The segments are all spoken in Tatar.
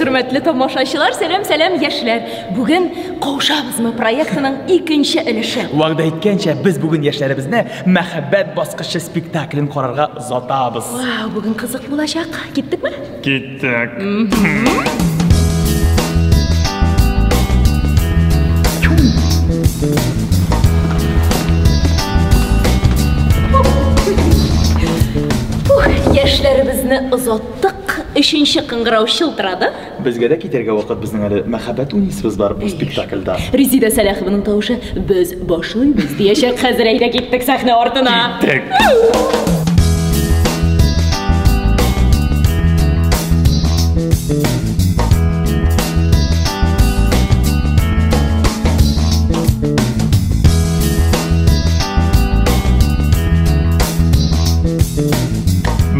хөрмәтле тамашачылар, сәлам, сәлам, яшьләр. Бүген Каушабызмы проектының икенче өлеше. Вәгъдә иткәнчә, без бүген яшьләребезне мәхәббәт баскычы спектаклен карарга Сатабыз. Вау, бүген кызык булачак. Киттекме? Киттек. Ух, яшьләребезне озаттык. Өченче кыңгырау шылтырады. Безгә дә китәргә вакыт безнең әле мәхәббәт уйныйсыбыз бар бу спектакльда. Резида Сәләхованың тавышы без башлыйбыз диячәк хәзер әйдә киттек сәхнә артына. Киттек.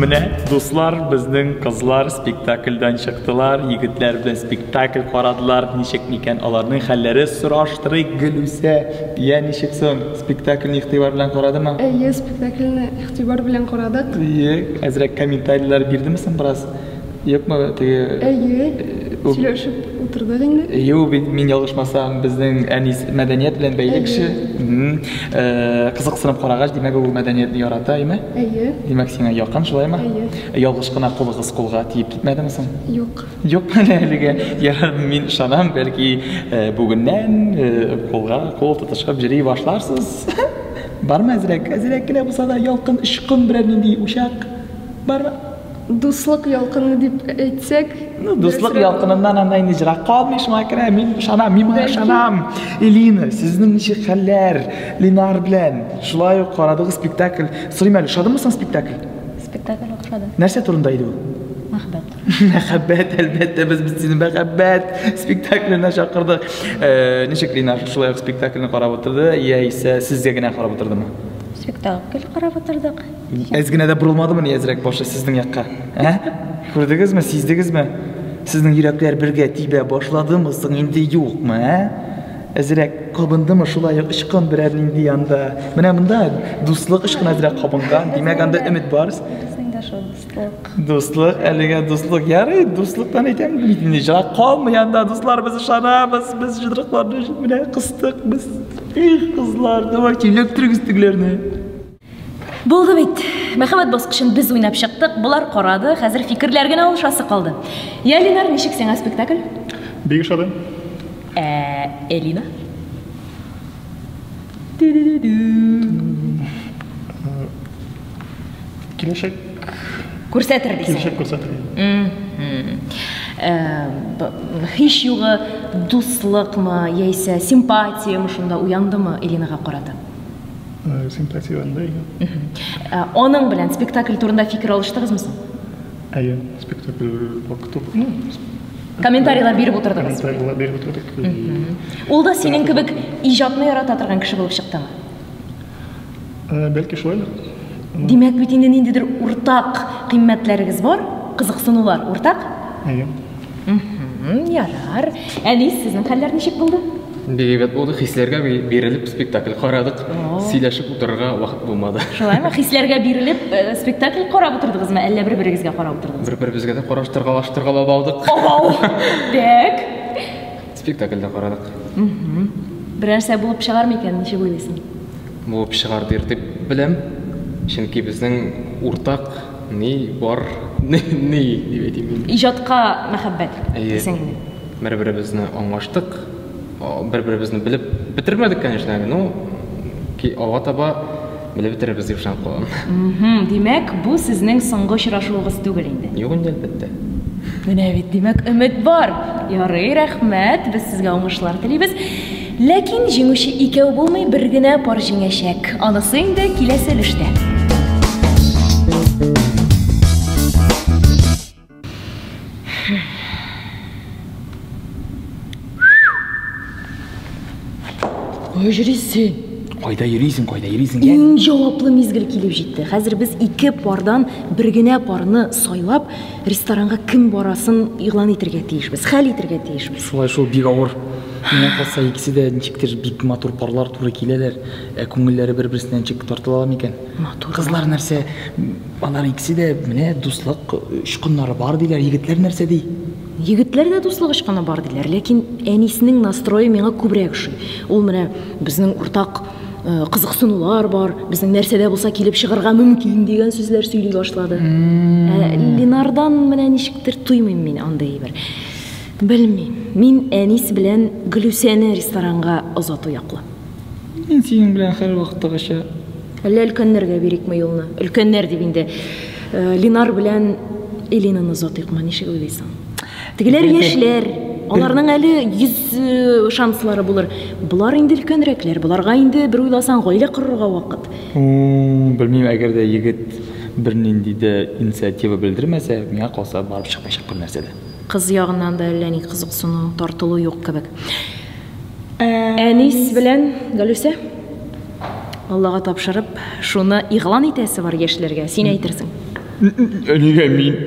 Менә дуслар безнең кызлар Спектакльдән чыктылар, егетләр белән спектакль карадылар. Ничек микән аларның хәлләре сораштырыйк, Гөлүсә. Я, ничек соң? Спектакльне игътибар белән карадымы? Әйе, спектакльне игътибар белән карадык. Әйе, әзрәк комментарийлар бирдеме соң бераз? Юкмы теге? Әйе, сөйләшеп утырдык инде. Әйе, ул бит мин ялгышмасам, безнең Әнис мәдәният белән бәйле кеше. Кызыксынып карагач, димәк, ул мәдәниятне ярата, әйеме? Әйе. Димәк, сиңа якын, шулаймы? Әйе. Ялгыш кына кулыгыз кулга тиеп китмәдеме соң? Юк. Юк менә әлегә. Я мин ышанам, бәлки э, бүгеннән э, кулга кул тотышып йөри башларсыз. Бармы әзрәк? Әзрәк кенә булса да ялкын очкын берәр нинди учак. Бармы? Дуслык ялкыны дип әйтсәк, Ну, дуслык дөресрәк. ялкыныннан анда инде җырак калмый шуңа күрә мин ышанам, мин моңа Бәлки. ышанам. Элина, сезнең ничек хәлләр? Ленар белән шулай ук карадыгыз спектакль. Сорыйм әле, ошадымы соң спектакль? Спектакль охшады. Нәрсә турында иде ул? Мәхәббәт. Мәхәббәт, әлбәттә, без бит сине мәхәббәт спектакленә чакырдык. Э, ничек Линар шулай ук спектакльне карап утырды, яисә сезгә генә карап утырдымы? Спектакль карап утырдык. Әз генә дә борылмадымы ни әзрәк башы сезнең якка? Ә? Күрдегезме, сиздегезме? Сезнең йөрәкләр бергә тибә башладымы соң инде юкмы, ә? Әзрәк кабындымы шулай ук ычкын берәр нинди анда. Менә монда дуслык ычкын әзрәк кабынган. Димәк анда өмет бар. Дуслык, әлегә дуслык. Ярый, дуслыктан әйтәм, ни җырак калмый анда, дуслар без ышанабыз, без җыдрыкларны менә кыстык, без. Их, кызлар, давайте эләктерегез тегеләрне. Булды бит. Мәхәббәт баскычын без уйнап чыктык, болар карады, хәзер фикерләр генә алышасы калды. Я, Ленар, ничек сиңа спектакль? Бик ошады. Ә, Элина? Киләчәк. Күрсәтер дисең. Киләчәк күрсәтер. Һич югы дуслыкмы, яисә симпатиямы шунда уяндымы Элинага карата? Э, симпатия анда иде. Э, аның белән спектакль турында фикер алыштыгызмы соң? Әйе, спектакль вакыты, ну, комментарийлар биреп утырдыгыз. Комментарийлар биреп утырдык. Ул да синең кебек иҗатны ярата торган кеше булып чыктымы? Э, бәлки шулай. Димәк бит инде ниндидер уртак кыйммәтләрегез бар, кызыксынулар уртак? Әйе. Ярар. Әни, сезнең хәлләр ничек булды? Бигрәк булды, хисләргә бирелеп спектакль карадык. Сөйләшеп утырырга вакыт булмады. Шулаймы? Хисләргә бирелеп э, спектакль карап утырдыгызмы, әллә бер-берегезгә карап утырдыгызмы? Бер-беребезгә дә караштыргалаштыргалап алдык. Ау! Так. Спектакльдә карадык. Берәрсә булып чыгар микән, ничек уйлыйсың? Булып чыгар дир дип беләм. Чөнки безнең уртак Ни бар? Ни, ни, дип әйтим мин. Иҗатка мәхәббәт дисең. Бер-беребезне аңлаштык. Бер-беребезне белеп бетермәдек, конечно, әле, но ки алга таба белеп бетерербез дип ышанып калам. Димәк, бу сезнең соңгы очрашуыгыз түгел инде. Юк инде, әлбәттә. Менә бит, димәк, өмет бар. Ярый, рәхмәт. Без сезгә уңышлар телибез. Ләкин җиңүче икәү булмый, бер генә пар җиңәчәк. Анысы инде киләсе өлештә. Кая йөрисең? Кайда йөрисең, кайда йөрисең? Иң җаваплы мизгел килеп җитте. Хәзер без ике пардан бер генә парны сайлап, ресторанга кем барасын игълан итергә тиешбез, хәл итергә тиешбез. Шулай шул бик авыр. Миңа калса икесе дә ничектер бик матур парлар туры киләләр. Ә күңелләре бер-берсенә ничек тартыла микән? Матур. Кызлар нәрсә? Алар икесе дә менә дуслык очкыннары бар диләр. Егетләр нәрсә ди? Егетләр дә дуслык очкыны бар диләр, ләкин әнисенең настрое миңа күбрәк ошый. Ул менә безнең уртак э, кызыксынулар бар, безнең нәрсәдә булса килеп чыгарга мөмкин дигән сүзләр сөйли башлады. Ә Ленардан менә ничектер туймыйм мин андый бер. Белмим. Мин Әнис белән Глюсәне ресторанга озату яклы. Мин синең белән һәр вакыттагыча. Әллә өлкәннәргә бирикме юлны? Өлкәннәр дип инде э, Ленар белән Элинаны озатыйкмы, ничек уйлыйсың? Тегеләр яшьләр, аларның әле йөз э, шанслары булыр. Болар инде өлкәнрәкләр, боларга инде бер уйласаң гаилә корырга вакыт. М, Белмим, әгәр дә егет бернинди дә инициатива белдермәсә, миңа калса барып чыкмаячак бер нәрсә дә. Кыз ягыннан да әллә ни кызыксыну, тартылу юк кебек. Әнис белән Галүсә Аллага тапшырып, шуны игълан итәсе бар яшьләргә. Син әйтерсең. Нигә мин?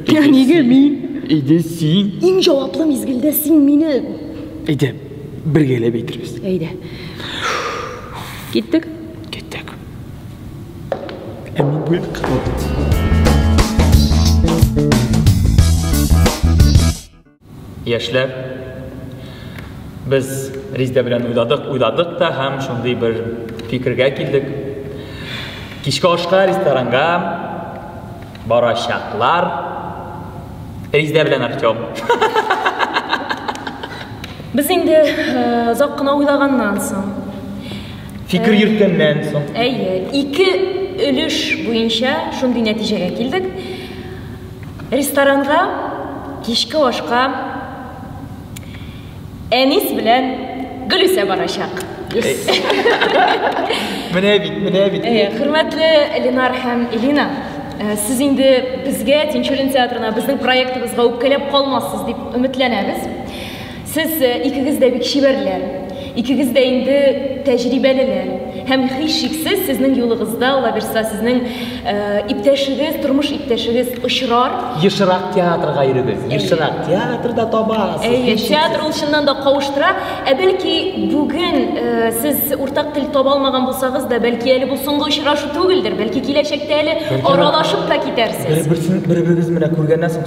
Нигә мин? Әйдә син. Иң җаваплы мизгелдә син мине. Әйдә, бергәләп әйтербез. Әйдә. Киттек. Киттек. Ә мин бу якка Яшьләр без Риздә белән уйладык, уйладык та һәм шундый бер фикергә килдек. Кичке ашка ресторанга барачаклар. Риздә белән Артём. Без инде э, озак кына уйлаганнан соң, Фикер э, йөрткәннән соң. әйе, ике өлеш буенча шундый нәтиҗәгә килдек. Ресторанга кичке ашка Әнис белән Гөлүсә барачак. Менә бит, менә бит. Э, хөрмәтле Ленар һәм Элина, э, сез инде безгә Тинчурин театрына, безнең проектыбызга үпкәләп калмассыз дип өметләнәбез. Сез икегез дә бик чибәрләр, икегез дә инде тәҗрибәлеләр. Һәм һичшиксез сезнең юлыгызда алабирса сезнең иптәшегез, тормыш иптәшегез очрар. Ешрак театрга йөрегез, ешрак театрда табасыз. Әйе, театр ул чыннан да кавыштыра. Ә бәлки бүген сез уртак тел таба алмаган булсагыз да, бәлки әле бу соңгы очрашу түгелдер, бәлки киләчәктә әле аралашып та китәрсез. Бер-берсен бер-берегез менә күргәннән соң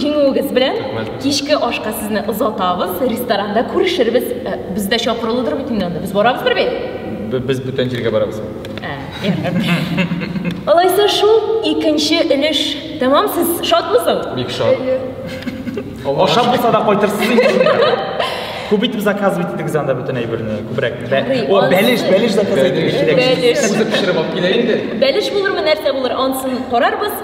Җиңүегез белән. Кичке ашка сезне озатабыз. Ресторанда күрешербез. Э, без дә чакырылыдыр бит инде анда. Без барабыз бер бит. Без бүтән җиргә барабыз. Ә, Алайса шул икенче өлеш. Тәмам сез шатмысың? Бик шат. Ашап булса да кайтырсыз инде. Күп итеп заказ бит идегез анда бүтән әйберне. Күбрәк. О, бәлеш, бәлеш заказ итегез. Бәлеш. Бәлеш булырмы, нәрсә булыр, ансын карарбыз.